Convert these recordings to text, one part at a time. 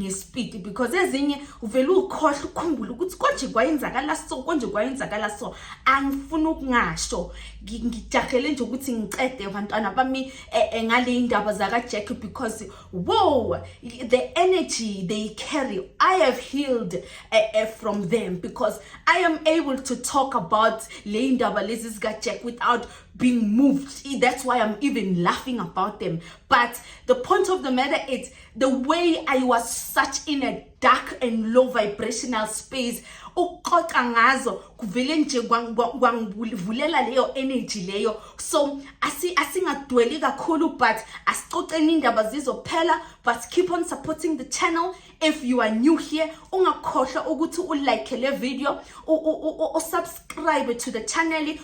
ngesipidi because ezinye uvele ukhohle ukhumbule ukuthi konje kwayenzakala so konje kwayenzakala so angifuni ukungasho ngijahele nje ukuthi ngicede abantwana bami e, e, ngale indaba zakajack because wow the energy they carry i have healed uh, uh, from them because i am able to talk about le indaba lezi zikajack without being moved that's why i'm even laughing about them but the point of the matter is the way I was such in a dark and low vibrational space ukuxoxa ngazo kuvele nje kwangivulela leyo energy leyo so asingadweli kakhulu but asixoxeni indaba zizophela but keep on supporting the channel if you are new here ungakhohlwa ukuthi ulike le video usubscribe to the channel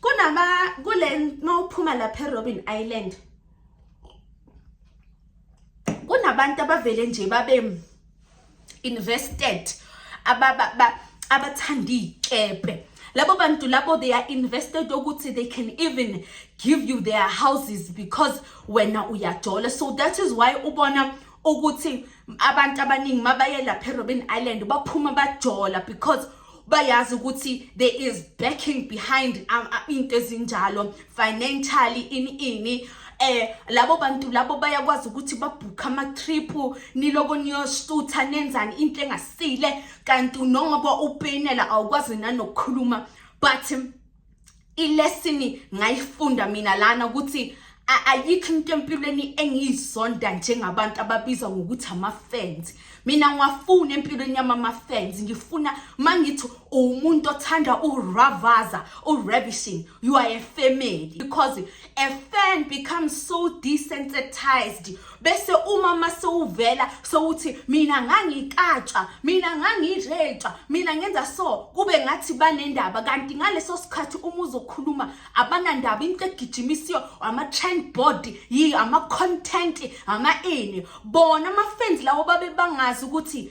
kunaba kule mawuphuma lapha eRobin Island kunabantu abavele nje babe invested ababa abathanda iy'kebhe labo bantu labo they are invested ukuthi they can even give you their houses because wena uyajola so that is why ubona ukuthi abantu abaningi mabaye lapha erobin island baphuma bajola because bayazi ukuthi there is backing behind um, uh, into ezinjalo financially ini ini eh labo bantu labo bayakwazi ukuthi babhukha ama trip niloko niyosutha nenzani into engasile kanti nongoba upenela awukwazi nanokukhuluma but ilesini ngayifunda mina lana ukuthi ayikho into empilweni engiyizonda njengabantu ababiza ngokuthi ama-fans mina ngiwafuna empilweni yami ama-fans ngifuna uma ngithi uwumuntu othanda uravaza uravishing you are a family because a fan becomes so desensitized bese uma masewuvela sewuthi mina ngangikatsha mina ngangiretsha mina ngenza so kube ngathi banendaba kanti ngaleso sikhathi uma uzokhuluma abanandaba into egijimisiyo ama-trend board yi ama-content ama-ini bona ama-fans lawo babe bangazi ukuthi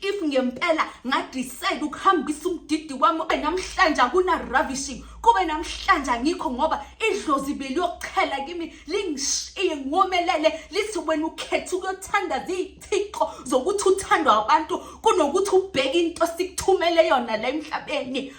if ngempela ngadecide ukuhambisa umdidi wami ube namhlanje akuna-ravishing kube namhlanje angikho ngoba idlozi beliyokuchela kimi lingishiye ngomelele lithi wena ukhetha ukuyothanda ziyithixo zokuthi uthandwa abantu kunokuthi ubheke into sikuthumele yona la emhlabeni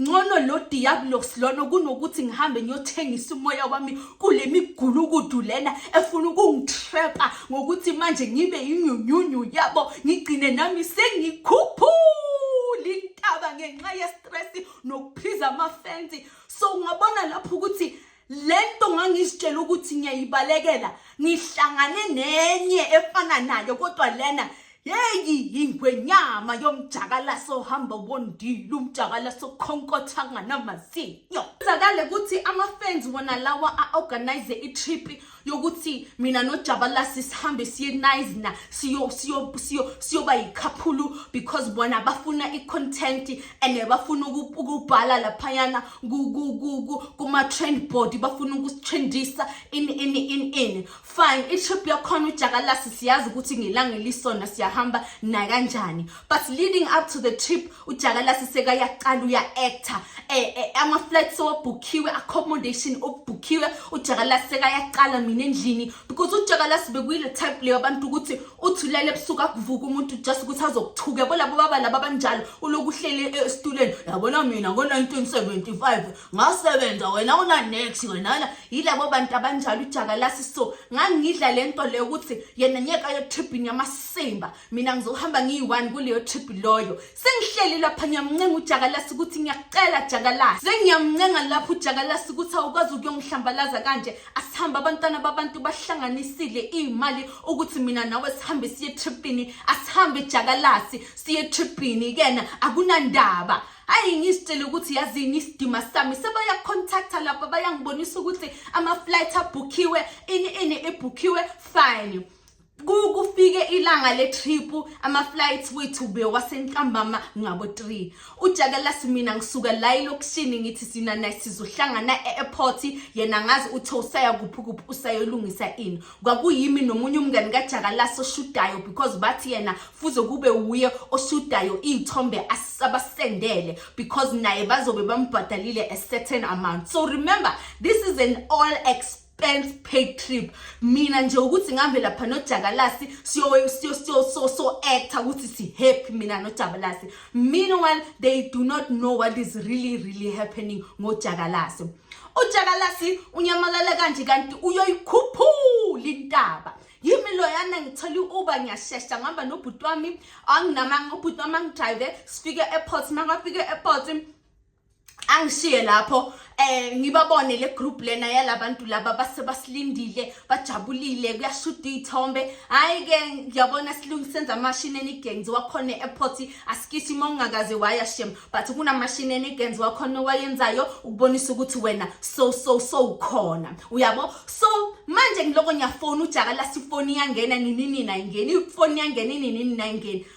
ngcono lo diabolos lona kunokuthi ngihambe ngiyothengisa umoya wami kule migulukudu lena efuna ukungitrepa ngokuthi manje ngibe yinyunyunyu yabo ngigcine nami sengikhuphula intaba ngenxa yestress nokuphiza amafensi so ungabona lapho ukuthi lento ngangizitshela ukuthi ngiyayibalekela ngihlangane nenye efana nayo kodwa lena yeyi yingwenyama yomjakalaso ohamba wondile umjakalaso okhonkotha nganamazinyo kuzakale ukuthi ama-fans wona lawa a-organize i-trip yokuthi mina nojabalasi sihambe siye nizna siyoba siyo, siyo, siyo yikhaphulu because bona bafuna i-content and bafuna ukubhala laphayana kuma-trend board bafuna ukutrendisa in in in in fine itrip yakhona ujakalasi siyazi ukuthi ngelanga elisona siyahamba nakanjani but leading up to the trip ujakalasi sekayaqala uya-actor eh, eh, ama-flat sewabhukhiwe accommodation okubhukhiwe ujakalasi sekayaqala mina endlini because ujakalasi bekuyile type leyo abantu ukuthi uthi ulele ebusuku akuvuka umuntu just ukuthi azokuthuka yabo labo baba laba abanjalo uloku uhlele esituleni yabona mina ngo-1975 ngasebenza wena unanex wenana yilabo bantu abanjalo ujakalasi so ngangidla le nto leyo ukuthi yena nyeka yotribhini yamasimba mina ngizohamba ngiyi-one kuleyo trip loyo sengihleli lapha ngiyamncenga ujakalasi ukuthi ngiyakucela jakalasi sengiyamncenga lapho ujakalasi ukuthi awukwazi ukuyongihlambalaza kanje asihambe abantwana babantu bahlanganisile iy'mali ukuthi mina nawe sihambe siye etripini asihambe jakalasi siye etripini kena akunandaba ayi ngizitshele ukuthi yazini isidima sami sebayacontacta lapha bayangibonisa ukuthi ama-flight abhukhiwe ini ini ebhukhiwe fine kufike ilanga le-trip ama-flights wethu bewasentambama ngabo-three ujakalasi mina ngisuka la elokishini ngithi sina naye sizohlangana e-airport yena ngazi uthe usaya kuphi kuphi usayolungisa ini kwakuyimi nomunye umngani kajakalasi oshudayo because bathi yena fuze kube wuye oshudayo iy'thombe abasendele because naye bazobe bambhadalile a certain amount so remember this is an all exp expense paid trip mina nje ukuthi ngihambe lapha nojakalasi siyo siyo siyo so so actor ukuthi si happy mina nojabalasi meanwhile they do not know what is really really happening ngojakalasi ujakalasi unyamalala kanje kanti uyoyikhuphula intaba yimi loyana ngithole uba ngiyashesha ngihamba nobhuti wami anginamanga ubhuti wami angidrive sifike e-airport makafike e-airport angishiye lapho eh ngibabone le group lena yalabantu laba base basilindile bajabulile kuyashuda izithombe hayi ke ngiyabona silungi senza machine enigenzi wakhona eairport asikisi mongakaze waya shem but kuna machine enigenzi wakhona wayenzayo ukubonisa ukuthi wena so so so ukhona uyabo so manje ngiloko ngiyafona ujaka la sifoni yangena nini nini ayingeni ifoni yangena nini nini ayingeni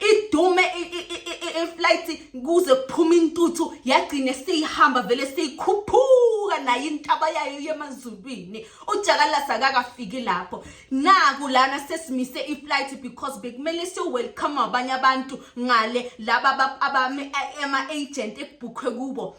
idume iflight kuze kuphuma intuthu yagcine seyihamba vele seyikhuphuka nayo intaba yayo yemazulwini ujakalasa akakafiki lapho naku lana sesimise iflight because bekumele siyo-welcome abanye abantu ngale laba abame ama-agent ekubhukhwe kubo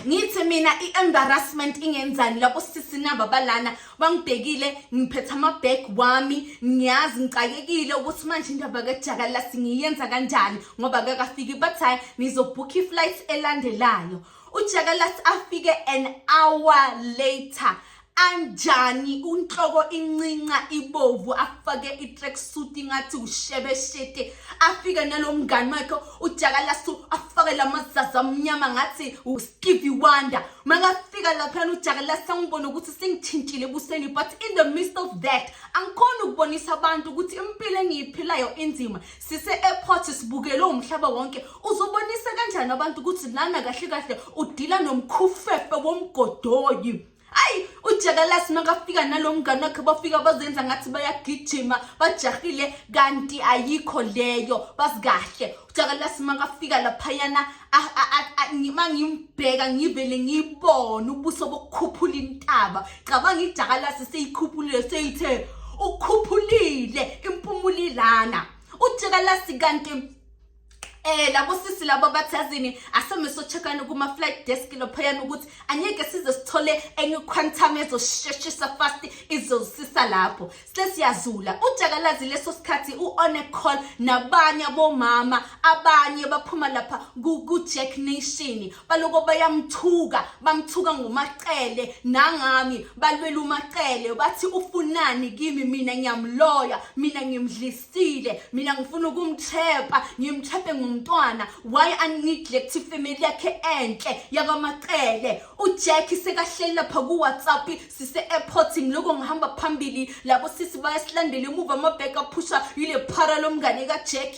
ngithi mina i-embarrassment ingenzani lapho sisi naba balana bangibhekile ngiphethe amabag wami ngiyazi ngicakekile ukuthi manje indaba kajaka singiyenza kanjani ngoba kakafiki bathi hhayi nizobhukha i-flight elandelayo ujaka afike an hour later anjani unhloko incinca ibovu afake i-tracksuit ingathi ushebe shete afike nalo mngani wakhe ujakalasu afake la mazaza amnyama ngathi ustevie wonder makafika laphana ujakalasa angibone ukuthi sengithintshile ebusweni but in the midst of that angikhona ukubonisa abantu ukuthi impilo engiyiphilayo inzima sise-airport sibukele umhlaba wonke uzobonisa kanjani abantu ukuthi lana kahle kahle udila nomkhufefe womgodoyi hayi ujakalasi makafika nalo mngane wakhe bafika bazenza ngathi bayagijima bajahile kanti ayikho leyo bazikahle ujakalasi makafika laphayana ma ngimbheka ngivele ngibone ubuso bokukhuphula intaba cabanga ijakalasi seyikhuphulile seyithe ukhuphulile impumulilana ujakalasi kanti Eh labo sisi labo bathazini asome so checkana kuma flight desk lophayana ukuthi anyeke size sithole enye quantum ezosheshisa fast izosisa lapho sesiyazula ujakalazi leso sikhathi u on a call nabanye abomama abanye baphuma lapha ku Jack Nation baloko bayamthuka bamthuka ngomacele nangami balwela umacele bathi ufunani kimi mina ngiyamloya mina ngimdlisile mina ngifuna ukumthepa ngimthepe ngomntwana why uneglect family yakhe enhle yakwamacele ujack sekahleli lapha kuwhatsapp sise-airport ngiloko ngihamba phambili labo sisi bayasilandela emuva amabheka aphusha yile phara lomngane kajack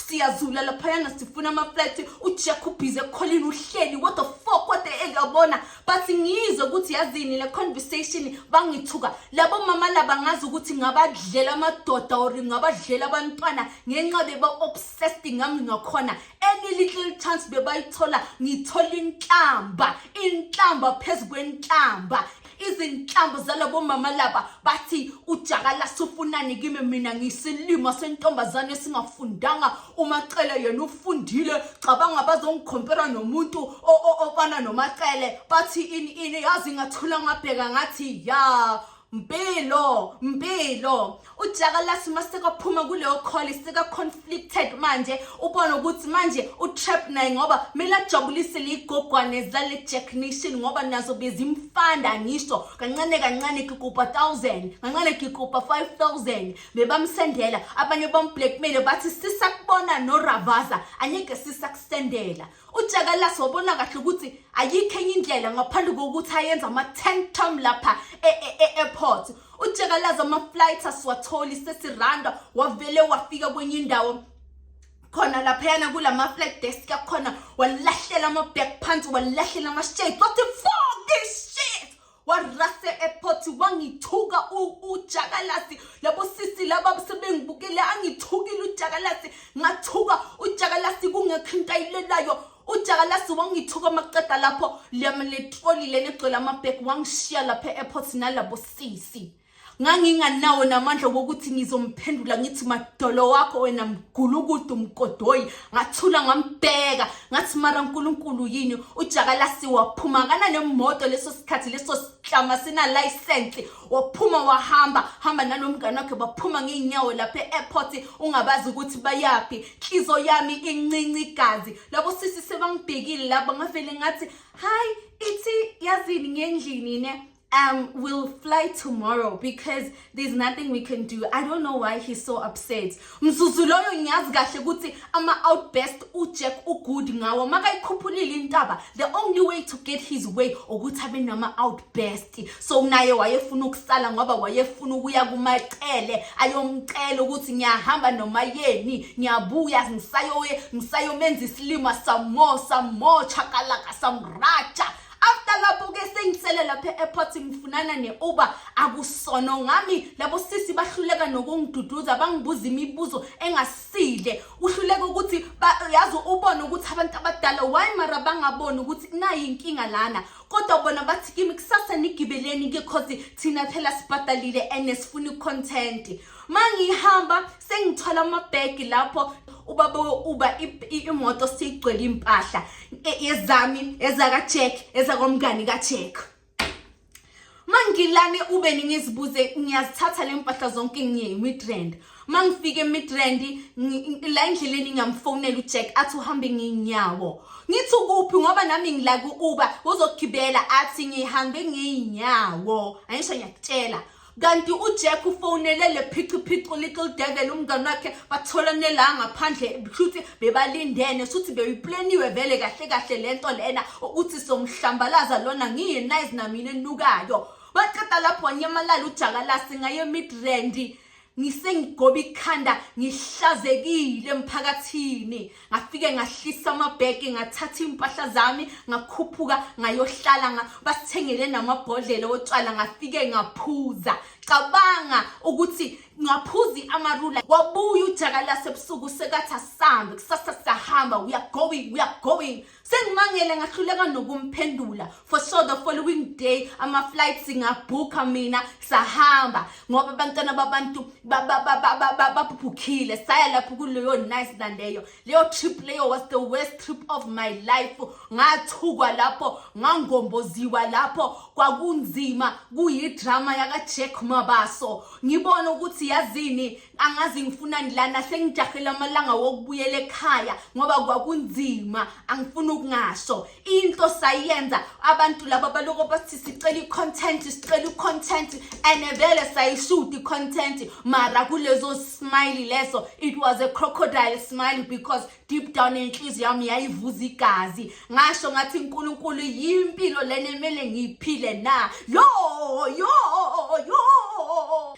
siyazula laphayana sifuna amaflat ujack ubhize ekholini uhleli what the fuck what the hell yabona but ngiyizwe ukuthi yazini le conversation bangithuka labo mama laba ngazi ukuthi ngabadlela amadoda or ngabadlela abantwana ngenxa beba-obsessed ngami ngakhona any little chance bebayithola ngithola inhlamba inhlamba phezu kwenhlamba izinhlambu zalabo mama laba bathi ujakala sufunani kimi mina ngisilima sentombazane esingafundanga umacele yena ufundile cabanga bazongikhompera nomuntu ofana nomacele bathi ini ini yazi ngathula ngabheka ngathi ya mpilo mpilo ujakalasi uma sekaphuma kuleyo kholi seka-conflicted manje ubone ukuthi manje utrap naye ngoba kumele ajabulise liyigogwane zale jack nation ngoba nazo bezimfanda ngisho kancane kancane kikupa 1000 kancane kikupa 5000 bebamsendela abanye bamblackmaile bathi sisakubona noravaza anyeke sisakusendela ujakalasi wabona kahle ukuthi ayikho enye indlela ngaphandle kokuthi ayenza ama-ten tom lapha e-airport e-, e-, ujakalaza ama-flight asiwatholi sesiranda wavele wafika kwenye indawo khona laphayana kula ma-flag desk akhona walahlela ama-back phansi walahlela ama-shades wathi fuck this shit warase airport wangithuka ujakalasi labo sisi laba sebengibukele angithukile ujakalasi ngathuka ujakalasi kungekho into ayilelayo ujakalasi wangithuka makuqeda lapho liyamletroli lena egcwele amabheki wangishiya lapha e-airport nalabo sisi nganginganawo namandla wokuthi ngizomphendula ngithi madolo wakho wena mgulukudu mgodoyi ngathula ngambheka ngathi mara nkulunkulu yini ujakalasi waphuma kanane moto leso sikhathi leso sihlama sinalayisensi waphuma wahamba hamba nalomngane wakhe baphuma ngeenyawo lapha e-airport ungabazi ukuthi bayaphi nhlizo yami incinci igazi labo sisi sebangibhekile laba ngavele ngathi hayi ithi yazini ngendlini ne um we'll fly tomorrow because there's nothing we can do i don't know why he's so upset Mzuzu loyo ngiyazi kahle ukuthi ama-outbest ujack ugood ngawo makayikhuphulile intaba the only way to get his way ukuthi abe nama-outbest so naye wayefuna ukusala ngoba wayefuna ukuya kumacele ayomcela ukuthi ngiyahamba noma yeni ngiyabuya ngisayomenza isilima samo samo chakalaka samraja after lapho ke sengisele lapha e-airport ngifunana ne-uber akusono ngami labo sisi bahluleka nokungiduduza bangibuza imibuzo engasile uhluleka ukuthi yazi ubone ukuthi abantu abadala why mara bangaboni ukuthi nayi inkinga lana kodwa bona bathi kimi kusasa nigibeleni-ke cause thina phela sibhadalile and sifuna i-content ma ngihamba sengithola amabhegi lapho ubaba uba imoto siyigcwele impahla e, ezami ezakajack ezakomngani kajack mangilane ube ningizibuze ngiyazithatha le mpahla zonke ngiye imidrand mangifika emidrand la endleleni ngingamfonela ujack athi uhambe ngiyinyawo ngithi ukuphi ngoba nami ngila ku-uber uzogibela athi ngihambe ngiyinyawo angisho ngiyakutshela kanti ujack ufonele le phichiphichi little devil umngane wakhe batholane la ngaphandle shuthi bebalindene shuthi beyipleniwe vele kahle kahle le nto lena ukuthi somhlambalaza lona ngiye nice namina enukayo baqeda lapho wanyamalala ujakalasi ngaye midrandi ngisengigoba ikhanda ngihlazekile emphakathini ngafike ngahlisa amabheki ngathatha iy'mpahla zami ngakhuphuka ngayohlala nga, basithengele namabhodlela otshwala ngafike ngaphuza cabanga ukuthi ngaphuzi amarula wabuya ujakalase ebusuku sekathi asambe kusasa siyahamba we are going we are going sengimangele ngahluleka nokumphendula for so the following day ama-flight singabhukha mina sahamba ngoba abantwana babantu babhukhile saya lapho kuleyo nice naleyo leyo trip leyo was the worst trip of my life ngathukwa lapho ngangomboziwa lapho kwakunzima kuyidrama yakajack mabaso ngibona ukuthi yazini angazi ngifunani lana sengijahela amalanga wokubuyela ekhaya ngoba kwakunzima angifuni ukungasho into sayenza abantu laba baloko bathi sicela i-content sicela i-content and vele sayishuta i-content mara kulezo smile leso it was a crocodile smile because deep down enhliziyo yami yayivuza igazi ngasho ngathi unkulunkulu yimpilo lena emele ngiyiphile na yo yo yo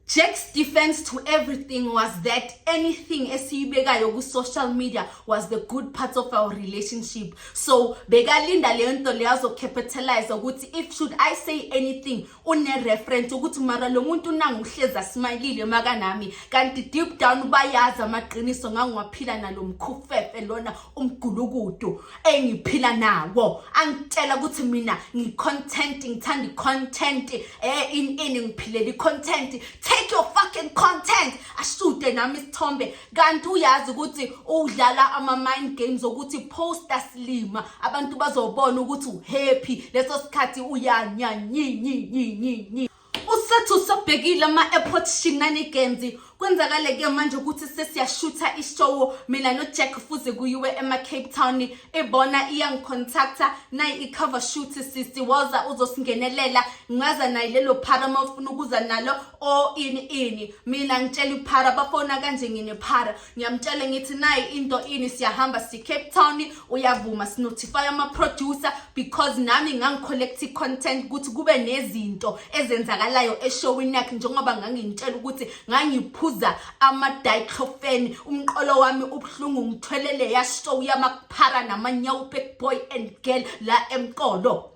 Jack's defense to everything was that anything esiyibekayo ku social media was the good part of our relationship so bekalinda leyo nto leyo azocapitalize ukuthi if should i say anything une reference ukuthi mara lo muntu nanguhleza smilile makanami kanti deep down bayazi amaqiniso ngangiwaphila nalomkhufefe lona umgulukudu engiphila nawo angitshela ukuthi mina ngicontent ngithanda icontent eh in in ngiphilela icontent take your fucking content ashude nami isithombe kanti uyazi ukuthi udlala ama mind games ukuthi poster slima abantu bazobona ukuthi uhappy leso sikhathi uyanya nyi nyi nyi nyi usethu sobhekile ama-airport shinanigenzi kwenzakale-ke manje ukuthi sesiyashutha ishowo mina nojack fuze kuyiwe ema-cape town ibona iyangicontacta nayi i-cover shoot sisi woza uzosingenelela ngaza naye lelo phara uma ufuna ukuza nalo o ini ini mina ngitshela iphara bafona kanje nginephara ngiyamtshela ngithi nayi into ini siyahamba si Cape Town uyavuma sinotify ama producer because nami ngangicollect content ukuthi kube nezinto ezenzakalayo eshowini yakhe njengoba ngangintshela ukuthi ngangiphuza ama diclofenac umqolo wami ubuhlungu ngithwelele ya show yamakuphara namanyawu big boy and girl la emqolo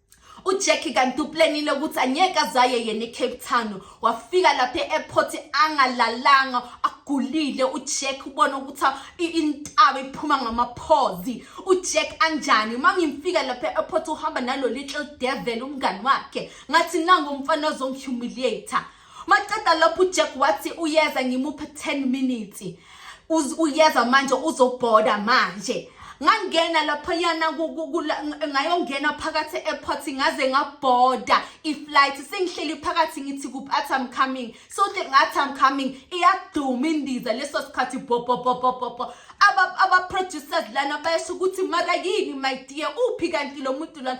uJackie kanti uplanile ukuthi angeke azaye yena eCape Town wafika lapha e-airport angalalanga agulile uJack ubona ukuthi intaba iphuma ngamaphozi uJack anjani uma ngimfika lapha e-airport uhamba nalo little devil umngani wakhe ngathi nangu umfana ozongihumiliator Maqeda lapho uJack wathi uyeza ngimupha 10 minutes. Uz uyeza manje uzobhoda manje. ngangena laphayana ngayongena phakathi e-airport ngaze ngabhoda i-flight sengihleli phakathi ngithi kuphi athi am coming sothi ngathi am coming iyaduma indiza leso sikhathi bobobobobobo aba-producers lana bayasho ukuthi mara yini my dear uphi kanti lo muntu lana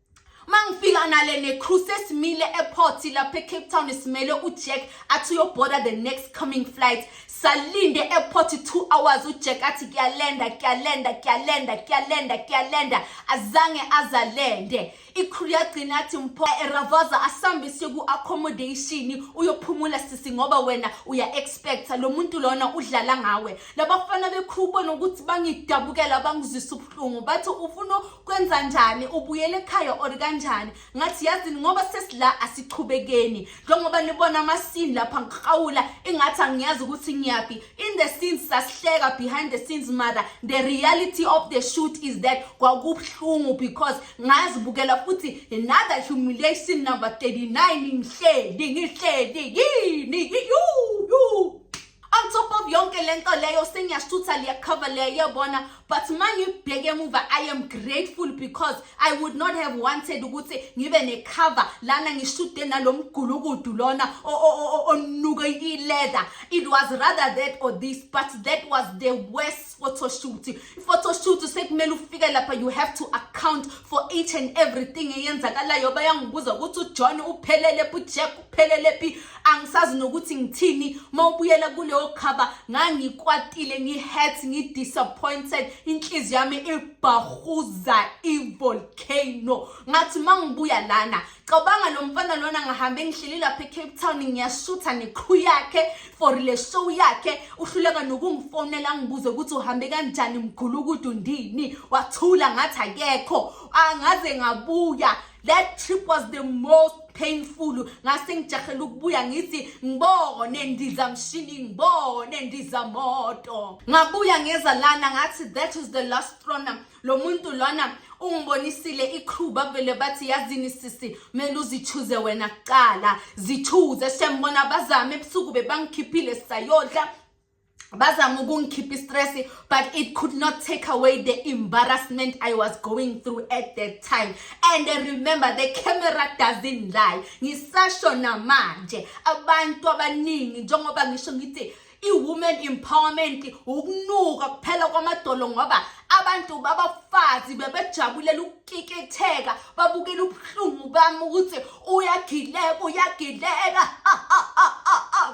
mangifika nale necrew sesimile eport lapha ecape town simele ujack athi uyoboarda the next coming flight salinde eport two hours ujack athi kuyalenda kuyalenda kuyalenda kuyalenda kuyalenda azange azalende icrew yagcina athi mpho eravaza asambise ku-accommodation uyophumula sisi ngoba wena uya-expecta lo muntu lona udlala ngawe labafana becrew bona ukuthi bangidabukela bangizwisa ubuhlungu bathi ufuna kwenza njani ubuyela ekhaya or kanjani ngathi yazini ngoba sesila asichubekeni njengoba nibona amasini lapha ngiqawula ingathi angiyazi ukuthi ngiyaphi in the scenes sasihleka behind the scenes mother the reality of the shoot is that kwakubuhlungu because ngazibukela futhi another humiliation number 39 ngihleli ngihleli yini yuu on top of yonke le nto leyo sengiyashutha liyakhava liyayebona but uma ngibheke emuva i am grateful because i would not have wanted ukuthi ngibe nekhava lana ngishude nalo mgulukudu lona onuke i-leather it was rather that or this but that was the worst photoshoot photoshoot sekumele ufike lapha you have to account for each and everything eyenzakalayo bayangibuza ukuthi ujohn uphelele phi ujack uphelele phi angisazi nokuthi ngithini uma ubuyela kuleyo khaba ngangikwatile ngi-hat ngi-disappointed inhliziyo yami ibhahuza ivolcano ngathi uma ngibuya lana cabanga lo mfana lona ngahambe ngihleli lapha ecape town ngiyashutha neqhu yakhe for le show yakhe uhluleka nokungifonela ngibuze ukuthi uhambe kanjani mgulukudu ndini wathula ngathi akekho angaze ngabuya that trip was the most painful ngase ngijahela ukubuya ngithi ngibone ndizamshini ngibone ndizamoto ngabuya ngeza lana ngathi that is the last runner lo muntu lona ungibonisile icrew bavele bathi yazini sisi kumele uzithuze wena kuqala zithuze shembona bazame ebusuku bebangikhiphile sisayodla bazama ukungikhipha istress but it could not take away the embarrassment i was going through at that time and I remember the camera doesn't lie ngisasho namanje abantu abaningi njengoba ngisho ngithi I-women empowerment ukunuka kuphela kwamadolo ngoba abantu babafazi bebejabulela ukukikitheka babukela ubuhlungu bami ukuthi uyagileka uyagileka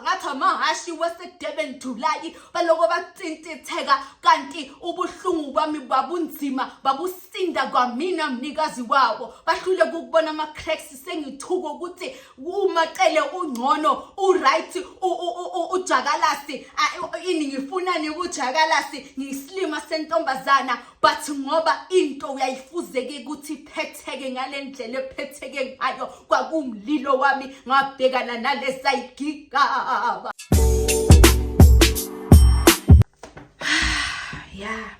ngathi amahhashi wasedurban julayi baloko bathintitheka kanti ubuhlungu bami babunzima babusinda kwamina mnikazi wawo bahlule kukubona ama-cracks sengithuka ukuthi umacele ungcono uright ujakalasi ini ngifunani kujakalasi ngiyisilima sentombazana but ngoba into uyayifuzeke ukuthi iphetheke ngale ndlela ephetheke ngayo kwakumlilo wami ngabhekana nalesayigigaba ya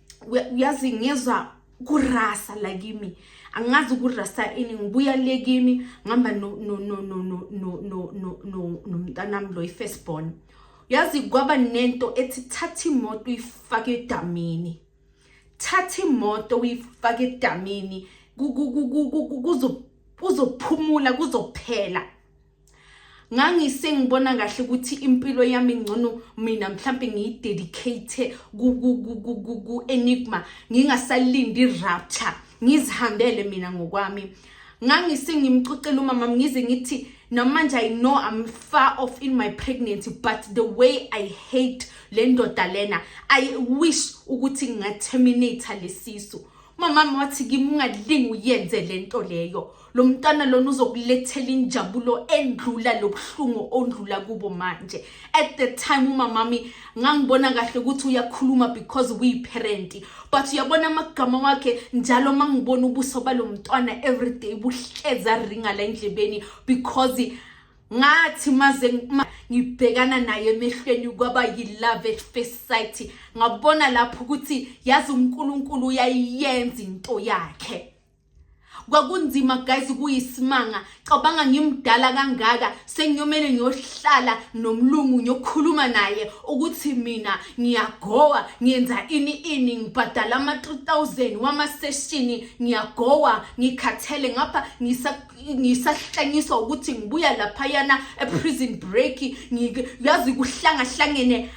uyazi ngiyezwa kurasa la kimi angazi kurasa ini ngibuya le kimi ngihamba nomntanami lo i-first born yazi kwaba nento ethi thatha imoto uyifake edamini thatha imoto uyifake edamini kuzophumula kuzophela ngangisengibona kahle ukuthi impilo yami ngcono mina mhlampe ngiyidedicate ku-enigma ngingasalindi i-rapture ngizihambele mina ngokwami ngangisengimcocela umama ngize ngithi namanje i know i'm far off in my pregnancy but the way i hate le ndoda lena i wish ukuthi ngingaterminate lesisu mamami wathi kimi ungalingi uyenze le nto leyo lo mntwana lona uzokulethela injabulo endlula lobuhlungu ondlula kubo manje at the time umamami ngangibona kahle ukuthi uyakhuluma because uyiparent but uyabona amagama wakhe njalo uma ngibona ubuso balo mntwana everyday buhleza ringa la endlebeni because ngathi maze ngibhekana naye emehlweni kwaba yilove at first sight ngabona lapho ukuthi yazi uNkulunkulu uyayenza into yakhe kwakunzima guys kuyisimanga cabanga ngimdala kangaka sengiyomele ngiyohlala nomlungu ngiyokhuluma naye ukuthi mina ngiyagowa ngenza ini ini ngibhadala ama-3000 wamaseshini ngiyagowa ngikhathele ngapha ngisa ngisahlanyiswa ukuthi ngibuya laphayana eprison break yazi kuhlangahlangene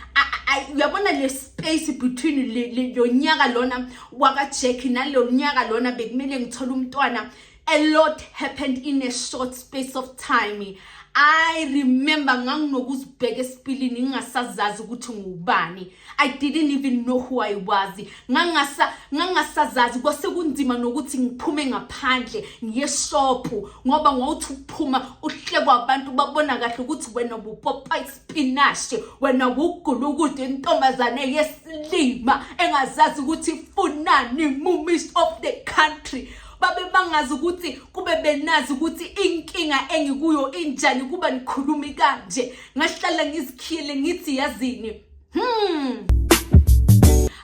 uyabona le space between lo nyaka lona wakajack nalo nyaka lona bekumele ngithole umntwana a lot happened in a short space of time i remember nganginokuzibheka esipilini ngingasazazi ukuthi ngubani I didn't even know who I was ngangasa ngangasazazi kwase kunzima nokuthi ngiphume ngaphandle ngiye shophu ngoba ngawuthi ukuphuma uhlekwa abantu babona kahle ukuthi wena bupopa ispinach wena wugula ukude intombazane yesilima engazazi ukuthi ifunani mumis of the country babe bangazi ukuthi kube benazi ukuthi inkinga engikuyo injani kuba nikhulumi kanje ngahlala ngizikhiyele ngithi yazini Hmm.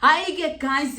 Hayi-ke guys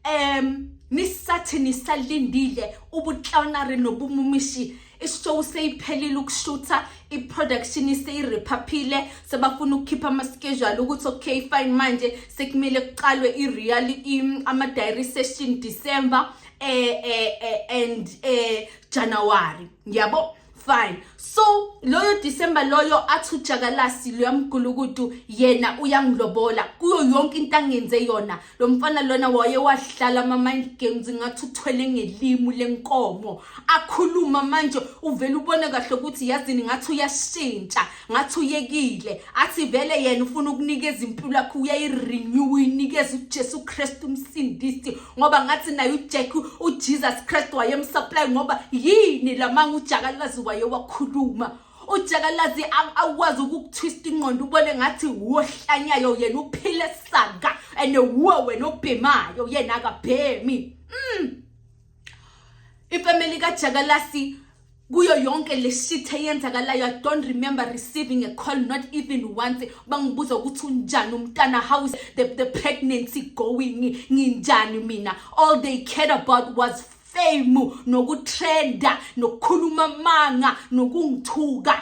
um nisathi nisalindile ubutlawunari nobumumishi ishow seyiphelile ukushutha i-production iseyirephaphile sebafuna ukukhipha ama-schedule ukuthi okay fine manje sekumele kuqalwe i-real ama-diary session december eh, eh, eh, and eh, january ngiyabo fine so loyo december loyo athi ujakalasi luyamgulukudu yena uyangilobola kuyo yonke into angenze yona lo mfana lona waye wahlala ama-mind games ngathi uthwele ngelimu lenkomo akhuluma manje uvele ubone kahle ukuthi yazini ngathi uyashintsha ngathi uyekile athi vele yena ufuna ukunikeza impilo yakhe uyayirenew uyinikeza uJesu Kristu umsindisi ngoba ngathi naye uJack uJesus Kristu wayemsupply ngoba yini lamanga ujakalazi waye wakhuluma ujakalazi awukwazi ukukutwista ingqondo ubone ngathi wohlanyayo yena uphile saka and wuwe wena obhemayo yena akabhemi mm. ifamily kajakalasi kuyo yonke le shit eyenzakalayo i don't remember receiving a call not even once bangibuza ukuthi unjani umntana how is the, the pregnancy going nginjani mina all they cared about was fame nokutrenda nokukhuluma amanga nokungithuka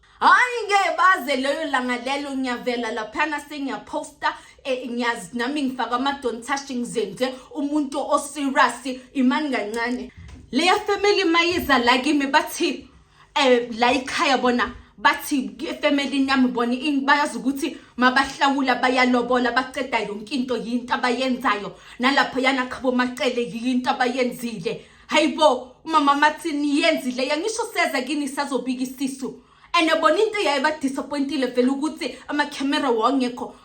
hayi ngeke baze leyo langa lelo ngiyavela laphana sengiyaphosta eh, ngiyazi nami ngifaka amadontashi ngizenze umuntu oserious imani kancane leya family mayiza la kimi bathi um la ikhaya bona bathi efemelini yami bona bayazi ukuthi mabahlawula bayalobola baceda yonke into yinto abayenzayo nalapho yana qhabo macele yinto abayenzile hayibo umama mathi niyenzile yangisho seze kini sazobika isisu and bona into eyayibadisappointile vele ukuthi amakhemera wawangekho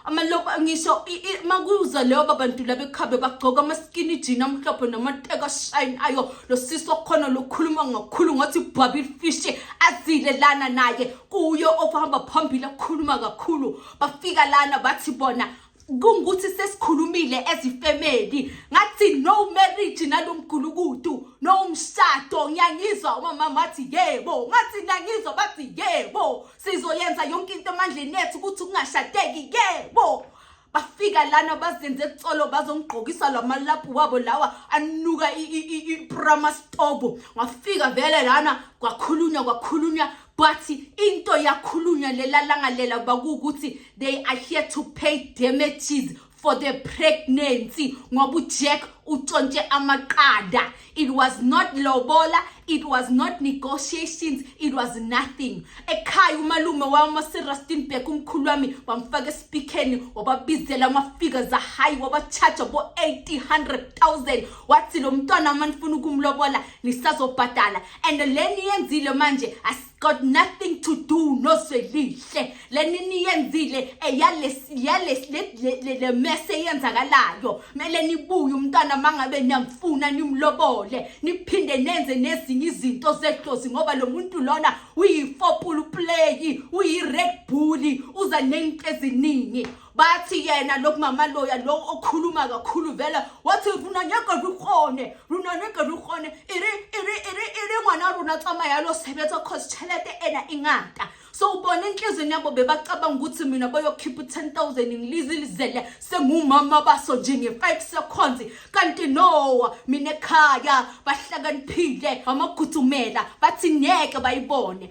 ngisho makuza leyo babantu laba ekhabe bagcoka amaskini jini amhlophe namateka shine ayo lo sisi wakhona lokhuluma ngakhulu ngathi bhabi fishi azile lana naye kuyo okuhamba phambili akhuluma kakhulu bafika lana bathi bona kungukuthi sesikhulumile ezifemeli ngathi no marriage nalomgulukudu no umshado ngiyangizwa umama wathi yebo ngathi ngiyangizwa bathi yebo sizoyenza yonke into emandleni ethu ukuthi kungashadeki yebo bafika lana bazenze etsolo bazongigqokisa lamalaphu wabo lawa anuka iprama stobo ngafika vele lana kwakhulunywa kwakhulunywa but into yakhulunywa lelalanga lela bakuwukuthi they are here to pay damages for the pregnancy ngoba ujack utshontshe amaqanda it was not lobola it was not negotiations it was nothing ekhaya umalume wami waserastinburg umkhulu wami wamfaka esipikeni wababizela amafika zahayi wabachaja bo-800 000 wathi lo mntwana uma nifuna ukumlobola nisazobhadala and le niyenzile manje got nothing to do noswelihle lenini yenzile eyalesiyalesile mese yenzakalayo mele nibuye umntwana mangabe niyamfuna nimlobole niphinde nenze nezinye izinto zehlozi ngoba lo muntu lona uyifopulu play uyi-red bull uza nento eziningi bathi yena lo mama loya lo okhuluma kakhulu vele wathi runa nyaka rukgone runa nyaka rukgone iri iri iri iri ngwana runa tsamaya lo sebetsa cause chelete ena ingata so ubona inhlizweni yabo bebacabanga ukuthi mina bayokhipha u-10 000 ngilizilizele sengumama baso nje nge-5 seconds kanti no mina ekhaya bahlakaniphile bamagudzumela bathi ngeke bayibone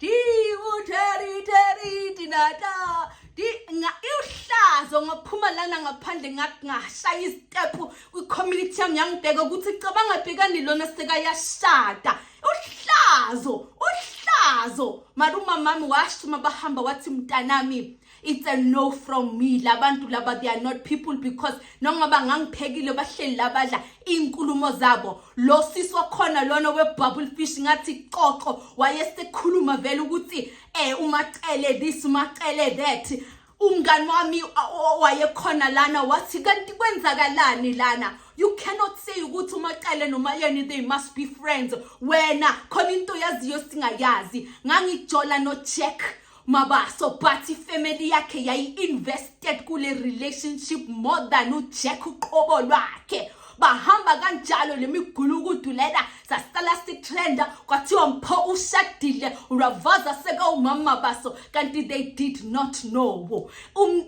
Di uteri teri dinata di nga ihlazo ngaphuma lana ngaphandle ngashaya istep kwi community yami yangibheka ukuthi cabanga bhekani lona sekayashada uhlazo uhlazo maruma mami washuma bahamba wathi mntanami it's a no from me labantu laba they are not people because nongoba ngangiphekile bahleli labadla inkulumo zabo lo sisi wakhona lona webubble fish ngathi coco wayesekhuluma vele ukuthi eh umacele this umacele that umngani wami wayekhona lana wathi kanti kwenzakalani lana you cannot say ukuthi umaqele noma yeni they must be friends wena khona into yaziyo singayazi ngangijola no check Mabaso bathi family yakhe yayi-invested kule relationship more than uJack uqobo lwakhe bahamba kanjalo lemigulukudu lena sasala sitrenda kwathiwa mpho ushadile uravaza sekawumama baso kanti they did not know um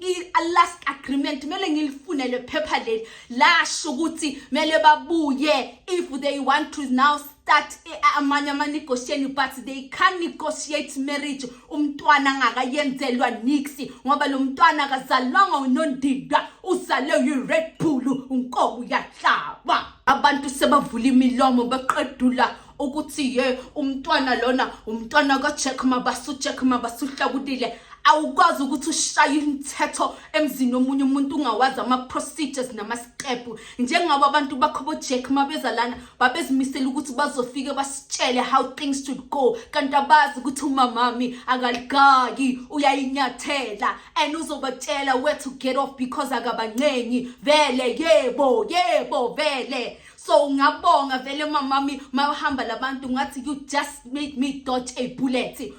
last agreement mele ngilifune lephepha leli lasho ukuthi mele babuye if they want to now start eh, amanye ama-negotiation but they can negotiate marriage umntwana angakayenzelwa niksi ngoba lo mntwana akazalwanga unondida uzale uyi-red bull unkobo uyahlaba abantu sebavula imilomo beqedula ukuthi ye umntwana lona umntwana kajack mabasu jack mabasu uhlakulile awukwazi ukuthi ushaye imithetho emzini omunye umuntu ungawazi ama-procedures nama-step njengoba abantu bakho bojack uma beza lana babezimisele ukuthi bazofike basitshele how things should go kanti abazi ukuthi umamami akaligaki uyayinyathela and uzobatshela where to get off because akabancengi vele yebo yebo vele so ungabonga vele mamami mawuhamba labantu ngathi you just made me dodge a bullet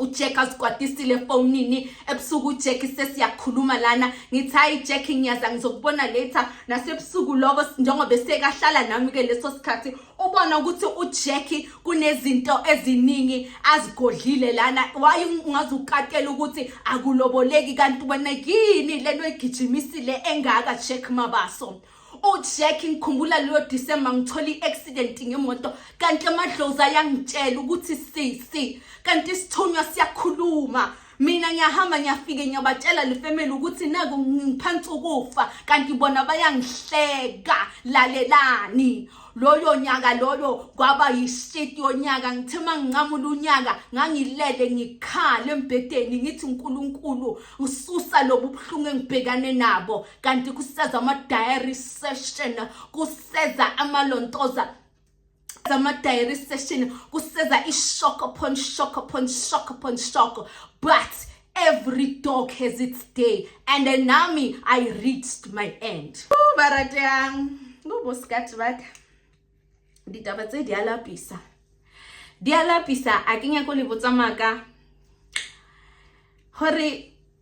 ujack asikwatisile efonini ebusuku ujack sesiyakhuluma lana ngithi hayi jack ngiyaza ngizokubona later nasebusuku loko njengoba sekahlala nami-ke leso sikhathi ubona ukuthi ujack kunezinto eziningi azigodlile lana waye ungaze ukatela ukuthi akuloboleki kanti wena yini lento egijimisile engaka jack mabaso ujack ngikhumbula leyo disemba ngithola i-accident ngemoto kanti amadlozi ayangitshela ukuthi sisi kanti isithunywa siyakhuluma mina ngiyahamba ngiyafike ngiyabatshela le family ukuthi naku ngiphansi ukufa kanti bona bayangihleka lalelani loyo nyaka loyo kwaba yishiti yonyaka ngithe uma nginqamula unyaka ngangilele ngikhala embhedeni ngithi unkulunkulu ngisusa lobu buhlungu engibhekane nabo kanti kuseza ama-diary session kuseza amalontoza ama-diary session kuseza i-shock upon shock upon shock upon shock but every dog has its day and then nami i reached my end barate yang ngobosikati baka ditaba tse di a lapisa di a lapisa a ke nyako le botsamaka gore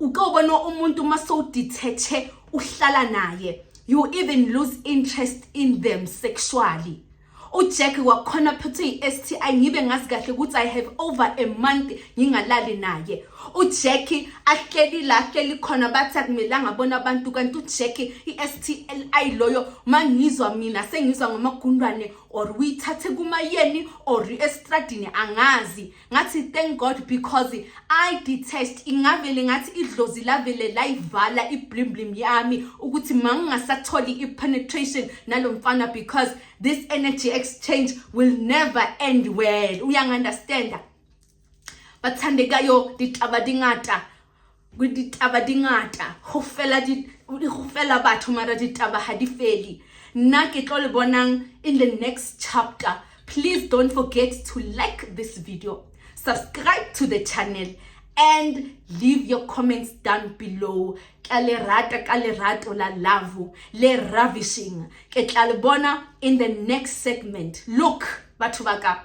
uke ubona umuntu uma sowudithethe uhlala naye you even lose interest in them sexually ujack wakhona phethwe i-sti ngibe ngazi kahle ukuthi i have over a month ngingalali naye ujack ahleli la ahleli khona bathi akumelanga abona abantu kanti ujack i-stli loyo uma ngizwa mina sengizwa ngamagundwane or uyithathe kumayeni or estradini angazi ngathi thank god because i detest ingavele ngathi idlozi lavele layivala iblimlim yami ukuthi mangingasatholi i-penetration nalo mfana because this energy exchange will never end well uyangi-understanda bathandekayo ditaba dingata ditaba di ngata go fela di go fela batho mara ditaba ha di feli nna ke tlo le bonang in the next chapter please don't forget to like this video subscribe to the channel and leave your comments down below ka le rata ka le rato la love le ravishing ke tla le bona in the next segment look batho ba ka